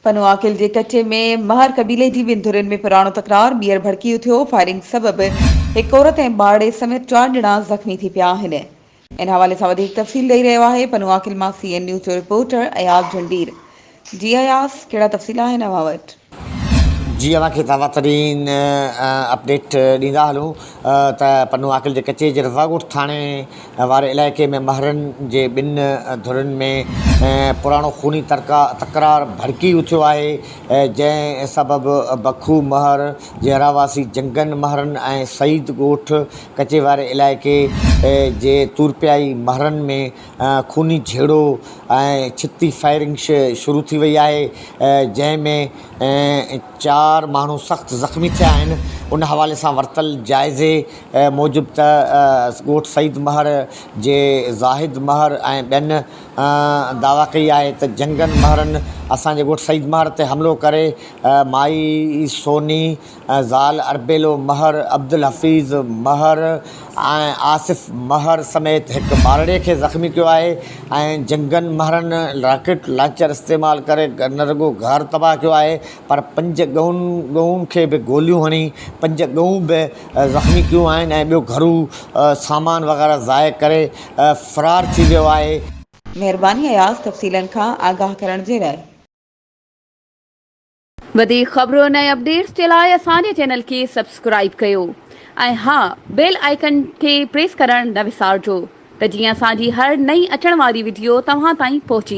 پنو عاقل جي ڪچي ۾ مهر قبيلي جي ٻن ڌرين ۾ پراڻو تڪرار ٻيهر ڀڙڪي اٿيو، فائرنگ سبب هڪ عورت ۽ ٻارڙي سميت چار ڄڻا زخمي ٿي پيا آهن. ان حوالي سان وڌيڪ تفصيل ڏئي رهيو آهي پنو عاقل مان سي اين نيوز جو رپورٽر اياز جهنڊير. جي اياز ڪهڙا تفصيل آهن اوهان وٽ؟ جي اوهان کي تازا ترين اپڊيٽ ڏيندا هلون ته پنو عاقل جي ڪچي جي رضاڳوٺ ٿاڻي واري علائقي ۾ مهرن جي ٻن ڌرين ۾ پراڻو خوني تڪرار ڀڙڪي اٿيو آهي، جنهن سبب بکو مهر جي رهواسي جنگن مهرن ۽ سعيد ڳوٺ ڪچي واري علائقي جي تورپيائي مهرن ۾ خوني جهيڙو ۽ ڇتي فائرنگ شروع ٿي وئي آهي، جنهن ۾ چار ماڻهو سخت زخمي ٿيا آهن، ان حوالي سان ورتل جائزي. موجب ته ڳوٺ سيد مهر جي زاهد مهر ۽ ٻين دعويٰ ڪئي آهي ته جنگن مهرن اسان جي ڳوٺ سيد مهر تي حملو ڪري مائي سوني، زال اربيلو مهر، عبدالحفيظ مهر ۽ آصف مهر سميت هڪ ٻارڙي کي زخمي ڪيو آهي ۽ جنگن مهرن راڪيٽ لانچر استعمال ڪري نه رڳو گهر تباهه ڪيو آهي پر پنج ڳئون کي به گوليون هڻي پنج ڳئون به زخمي ڪيون آهن ۽ ٻيو گهرو سامان وغيره ضايع ڪري فرار ٿي ويو آهي. مهرباني اياز تفصيلن کان آگاهه ڪرڻ جي لاء. وڌيڪ خبرن ۽ اپڊيٽس جي لاء اسان جي چينل کي سبسڪرائيب ڪيو ۽ ها بيل آئيڪن کي پريس ڪرڻ نه وسارجو ته جيئن اسان جي هر نئين اچڻ واري وڊيو توهان تائين پهچي.